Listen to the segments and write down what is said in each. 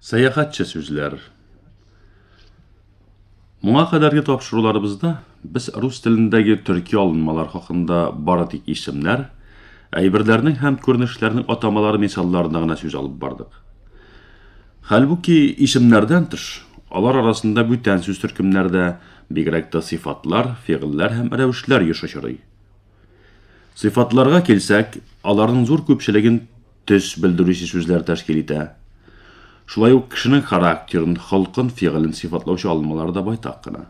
Сәяхәтче сүзләр. Моңа кадәрге тапшыруларыбызда без рус телендәге төрки алынмалар хакында бары тик исемнәр, әйберләрнең һәм күренешләрнең атамалары мисалларында гына сүз алып бардык. Хәлбуки исемнәрдән тыш, алар арасында бүтән сүз төркемнәрдә бигрәк тә сыйфатлар, фигыльләр һәм рәвешләр еш очрый. Сыйфатларга килсәк, аларның зур күпчелеген төс белдерүче сүзләр тәшкил итә. Шулай ук кешенең характерын, холкын, фигылен сыйфатлаучы алынмалар да байтак кына.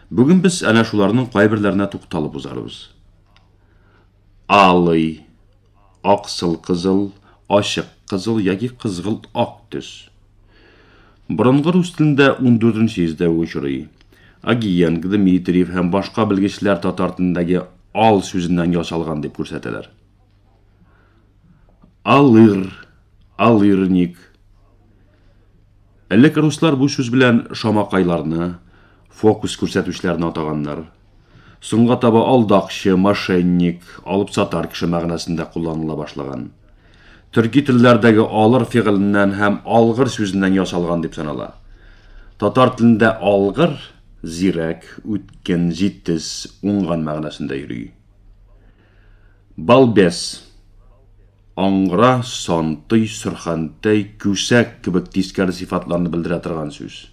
Бүген без әнә шуларның кайберләренә тукталып узарбыз. Алый, аксыл-кызыл, ачык кызыл яки кызгылт ак төс. Борынгы рус телендә 14 йөздә очрый. Агиенг, Дмитриев һәм башка белгечләр татар телендәге ал сүзеннән ясалган дип күрсәтәләр. Алыр, алырник. Элек руслар бу сүз белән шамакайларны, фокус күрсәтүчеләрне атаганнар. Соңга таба алдакчы, мошенник, алып сатар кеше мәгънәсендә кулланыла башлаган. Төрки телләрдәге алыр фигыленнән һәм алгыр сүзеннән ясалган дип санала. Татар телендә алгыр, зирәк, үткен, җитез, уңган мәгънәсендә йөри. Балбес. Аңгыра, сантый, сөрхәнтәй, күсәк кебек тискәре сыйфатларны белдерә торган сүз.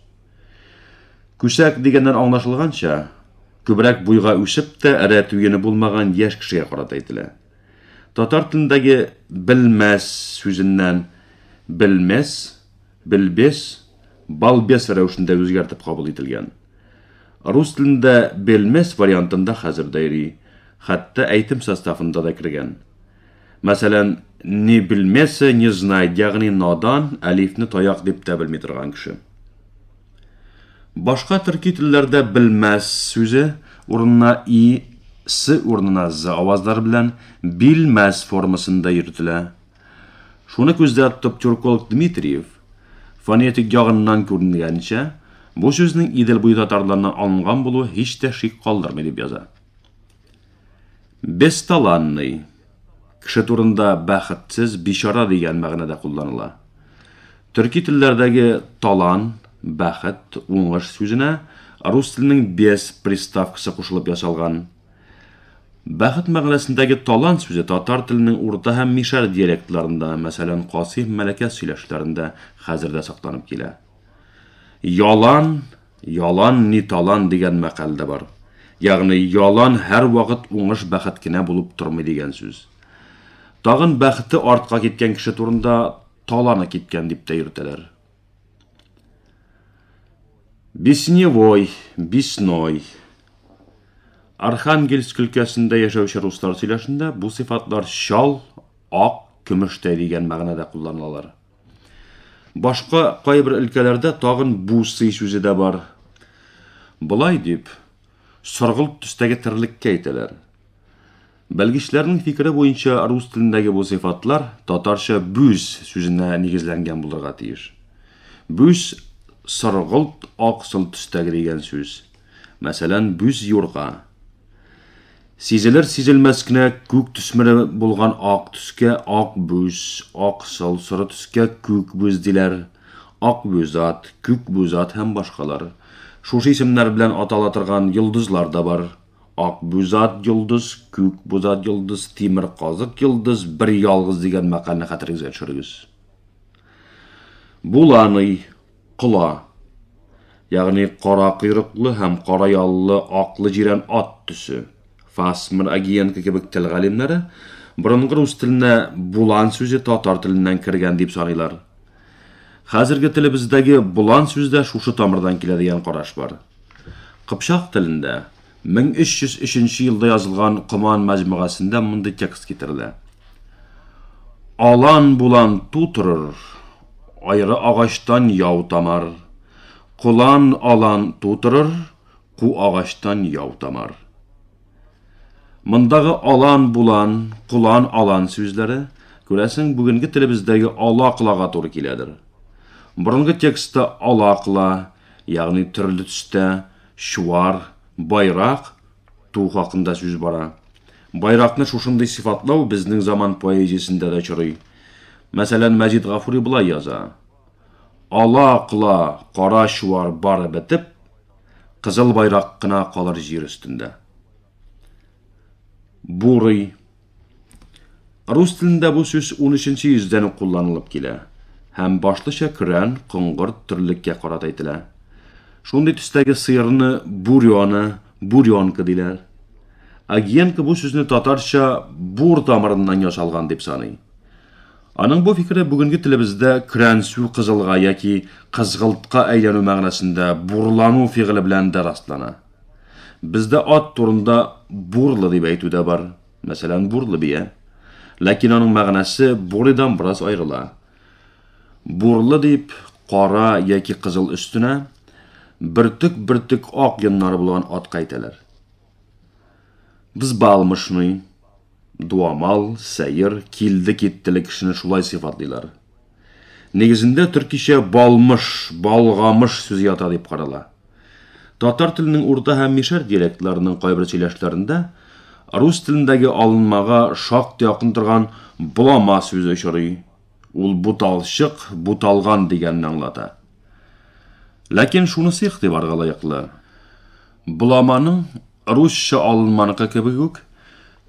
Күсәк дигәннән аңлашылганча, күбрәк буйга үсеп тә эрә туены булмаган яшь кешегә карата әйтелә. Татар телендәге белмәс сүзеннән белмес, Белбес, балбес рәвешендә үзгәртеп кабул ителгән. Рус телендә белмес вариантында хәзер дә йөри, хәтта әйтем составында да кергән. Мәсәлән, не белмесе, не знает, ягъни надан, әлифне таяк дип тә белми торган кеше. Башка төрки телләрдә белмәс сүзе урынына и, с урынына з авазлары белән билмәс формасында йөртелә. Шуны күздә тотып тюрколог Дмитриев, фонетик ягыннан күренгәнчә, бу сүзнең Идел буе татарларыннан алынган булуы һич тә шик калдырмый дип яза. Бесталанный, кеше турында бәхетсез, бичара дигән мәгънәдә кулланыла. Төрки телләрдәге талан, бәхет, уңыш сүзенә рус теленең без приставкасы кушылып ясалган. Бәхет мәгънәсендәге талант сүзе татар теленең урта һәм мишәр диалектларында, мәсәлән, касы һәм мәләкәс сөйләшләрендә хәзер дә сакланып килә. Ялан, ялан ни талан дигән мәкаль дә бар. Ягъни ялан һәрвакыт уңыш бәхет кенә булып тормый дигән сүз. Тагын бәхете артка киткән кеше турында таланы киткән дип тә йөртәләр. Бесневой, Бесной. Архангельск өлкәсендә яшәүче руслар сөйләшендә бу сыйфатлар чал, ак, көмештәй дигән мәгънәдә кулланылалар. Башка кайбер өлкәләрдә тагын бу сый сүзе дә бар. Болай дип, соргылт төстәге терлеккә әйтәләр. Белгечләрнең фикере буенча, рус телендәге бу сыйфатлар татарча бүз сүзенә нигезләнгән булырга тиеш. Бүз соргылт аксыл төстәге дигән сүз. Мәсәлән, бүз юрга. Сизелер-сизелмәс кенә күк төсмере булган ак төскә ак бүз, аксыл, соры төскә күк бүз диләр. Ак бузат, күк бузат һәм башкалар. Шушы исемнәр белән атала торган йолдызлар да бар. Ак бузат йолдыз, күк бузат йолдыз, тимер казык йолдыз, бер ялгыз дигән мәкальне хәтерегезгә төшерегез. Буланый, кола. Ягъни кара койрыклы һәм кара яллы аклы җирән ат төсе. Фасмер, Агиенко кебек тел галимнәре борынгы рус теленә булан сүзе татар теленнән кергән дип саныйлар. Хәзерге телебездәге болан сүз дә шушы тамырдан килә дигән караш бар. Кыпчак телендә 1303 елда язылган Коман мәҗмугасендә мондый текст китерелә. Алан булан ту торыр, айры агачтан яу тамар. Колан алан ту торыр, Ку агачтан яу тамар. Мондагы алан, булан, кулан, алан сүзләре, күрәсең, бүгенге телебездәге ала кылага туры киләдер. Борынгы текстта ала кыла, ягъни төрле төстә, чуар, байрак, ту хакында сүз бара. Байракны шушындый сыйфатлау безнең заман поэзиясендә дә очрый. Мәсәлән, Мәҗит Гафури болай яза. Ала-кола кара чуар бары бетеп, кызыл байрак кына калыр җир өстендә. Бурый. Рус телендә бу сүз 13-нче йөздән үк кулланылып килә һәм башлыча көрән, коңгырт, төрлеккә карата әйтелә. Шундый төстәге сыерны бурёна, бурёнка диләр. Агиенко бу сүзне татарча бур тамырыннан ясалган дип саный. Аның бу фикере бүгенге телебездә көрәнсү кызылга яки кызгылтка әйләнү мәгънәсендә бурлану фигыле белән дә раслана. Бездә ат турында бурлы дип әйтү дә бар, мәсәлән, бурлы бия. Ләкин аның мәгънәсе буридан бераз аерыла. Бурлы дип кара яки кызыл өстенә бөртек-бөртек ак йоннары булган атка әйтәләр. Взбалмошный. дуамал, сәер, килде-киттеле кешене шулай сыйфатлыйлар. Нигезендә төркичә балмыш, балгамыш сүзе ята дип карала. Татар теленең урта һәм мишәр диалектларының кайбер сөйләшләрендә рус телендәге алынмага шактый якын торган булама сүзе очрый. Ул буталчык, буталган дигәнне аңлата. Ләкин шунысы игътибарга лаеклы. Буламаның Русча алынманыкы кебек үк,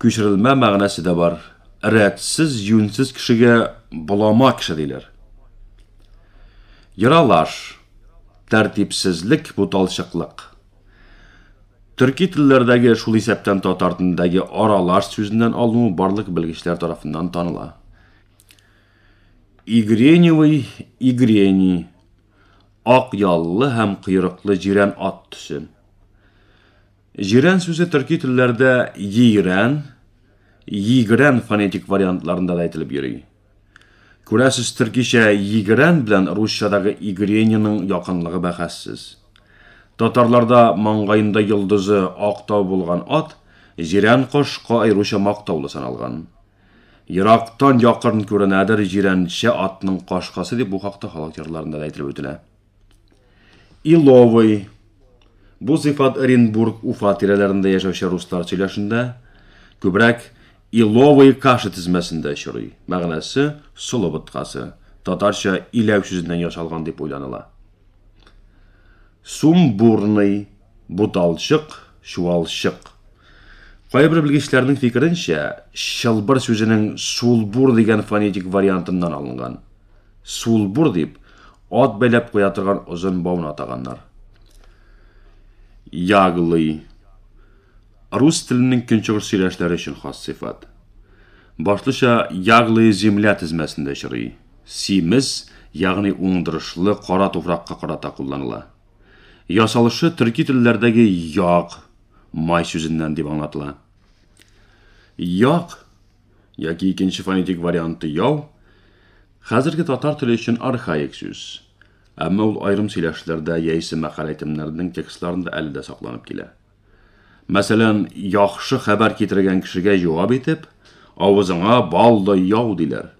күчерелмә мәгънәсе дә бар. Рәтсез, юньсез кешегә болама кеше диләр. Ералаш, тәртипсезлек, буталчыклык. Төрки телләрдәге, шул исәптән татар телендәге аралаш сүзеннән алынуы барлык белгечләр тарафыннан таныла. Игреневый, игрени. Ак яллы һәм койрыклы җирән ат төсе. Җирән сүзе төрки телләрдә йигрән, йигрән фонетик вариантларында да әйтелеп йөри. Күрәсез, төркичә йигрән белән русчадагы игреньның якынлыгы бәхәссез. Татарларда маңгаенда йолдызы ак тау булган ат, җирән кош, аеруча мактаулы саналган. Ерактан якын күренәдер җирәнчә атның кашкасы дип бу хакта халык җырларында да әйтелеп үтелә. Иловый. Бу сыйфат Оренбург, Уфа тирәләрендә яшәүче руслар сөйләшендә күбрәк иловые каши тезмәсендә очрый. Мәгънәсе солы боткасы, татарча иләү сүзеннән ясалган дип уйланыла. Сумбурный. Буталчык, чуалчык. Кайбер белгечләрнең фикеренчә, чылбыр сүзенең сулбур дигән фонетик вариантыннан алынган. Сулбур дип, ат бәйләп куя торган озын бауны атаганнар. Яглый. Рус теленең көнчыгыш сөйләшләре өчен хас сыйфат. Башлыча яглые земля тезмәсендә очрый. Симез, ягъни уңдырышлы кара туфракка карата кулланыла. Ясалышы төрки телләрдәге як, май сүзеннән дип аңлатыла. Як яки икенче фонетик варианты яу хәзерге татар теле өчен архаик сүз. Әмма ул аерым сөйләшләрдә яисә мәкалә әйтемнәренең текстларында әле дә сакланып килә. Мәсәлән, яхшы хәбәр китергән кешегә җавап итеп, авызыңа балдай яу диләр.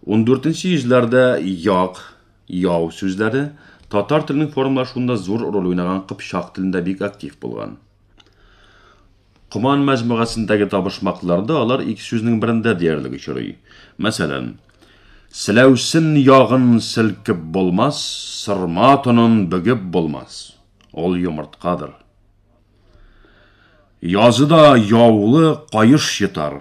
14 йөзләрдә як, яу сүзләре татар теленең формалашуында зур роль уйнаган кыпчак телендә бик актив булган. Коман мәҗмугасындагы табышмакларда алар ике сүзнең берендә диярлек очрый. Мәсәлән, Селәүсен ягын селкеп булмас, сырма тонын бөгеп булмас. Ул йомырткадыр. Языда яулы каеш йотар.